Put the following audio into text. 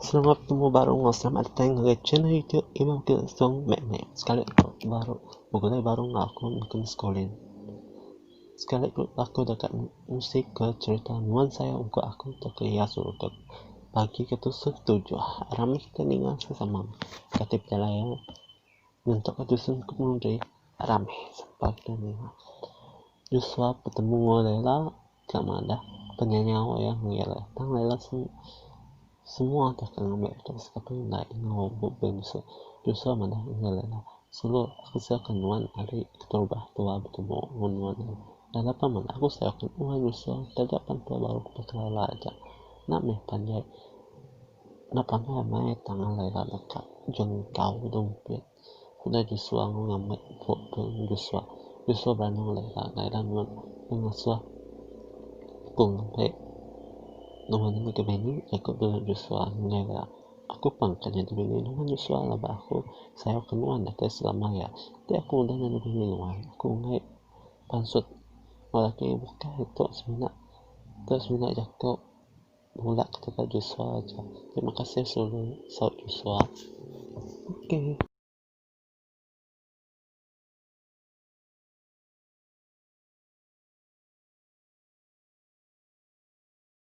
Selamat betemu baru enggau selamat datai ngagai channel YouTube Imam King Song Mek Mek. Sekali ku baru begulai baru enggau aku neken sekolah. Sekali ku aku deka ngisi ke cerita nuan sayau engku aku tauka iya suruh ke pagi ke tusung tujuh. Rami kita ninga sesama kati pejalai iya nyentuk ke tusung ke pengundi rami sempa kita ninga. Joshua betemu enggau Lela. Ka madah penyanyau iya ngilih tang lila semua deh ke ngambi betus ke tu indai enggau bebin mesu tusau madah ngilih la sulu aku sayau ke nuan ari keterubah tua betemu ngan nuan nya enda pa meda aku sayau ke nuan mesu taja pan tua baru ke baka lila aja enda mih panjai enda panai maya tang lila deka jungkau dumpit. Udah Josua enggau ngambat empu tu ngen Josua, Josua beranang alai ira enggau ira nuan ke ngasuh Aku ngampai nuan nyadi bini. Jakop nulung Josua ngengai ira, Aku pang ke nyadi bini nuan, Josua, laban aku sayauka nuan deka selama aya. Enti aku udah nyadi bini nuan, aku enggai pansut enggau lelaki bukai tu semina. Tu semina Jakop Nulak ke tebal Joshua aja. Terima kasih sulu saut Joshua. Okay.